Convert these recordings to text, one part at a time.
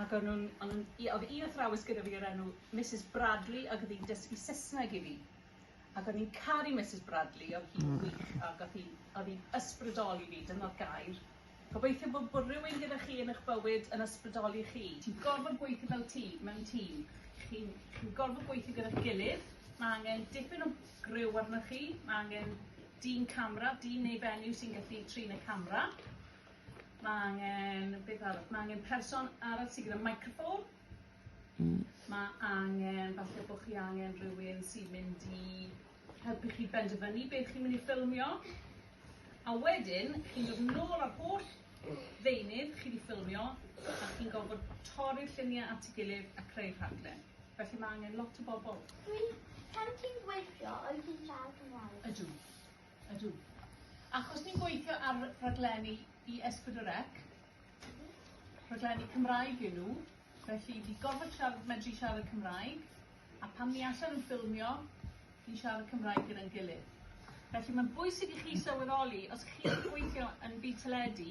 Ac o'n nhw'n, o'n nhw'n, i- oedd un athrawes gyda fi o'r enw Misus Bradley ac oedd hi'n dysgu Saesneg i fi. Ac o'n i'n caru Misus Bradley, oedd hi'n hmm. wych ac oedd hi'n, oedd hi'n ysbrydoli fi, dyna'r gair. Gobeithio bod, bod rhywun gyda chi yn eich bywyd yn ysbrydoli chi. Ti'n gorfod gweithio fel ti, mewn tîm. Chi'n chi gorfod gweithio gyda'r gilydd. Mae angen dipyn o gryw arnoch chi. Mae angen dyn camera, dyn neu fenyw sy'n gallu trin y camera. Mae angen, beth arall, mae angen person arall sydd gyda microffôn. Mm. Mae angen, falle bod chi angen rhywun sy'n mynd i helpu chi benderfynu beth chi'n mynd i ffilmio. A wedyn, chi'n dod yn ôl ar holl ddeunydd chi wedi ffilmio a chi'n gofod torri'r lluniau at ei gilydd a creu rhaglen. Felly mae angen lot o bobl. Dwi, pan ti'n gweithio, oes ti'n siarad Cymraeg? Ydw. Ydw. Achos ni'n gweithio ar raglenni i Esbydwrec, rhaglenni Cymraeg yw nhw, felly fi gorfod siarad, medru siarad Cymraeg, a pan ni allan yn ffilmio, ni'n siarad Cymraeg gyda'n gilydd. Felly mae'n bwysig i chi sylweddoli, os chi'n gweithio yn byd teledu,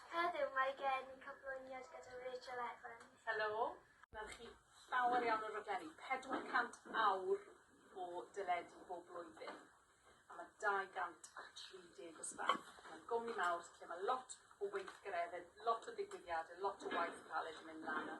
Heddiw mae gen i cyflwyniad gyda Rachel Evans. Helo. Mae chi llawer iawn o raglenni, 400 awr o deledu bob blwyddyn a mae 230 o staff. Mae'n gwmni mawr lle mae lot o weithgaredde, lot o ddigwyddiade, lot o waith caled yn mynd lan a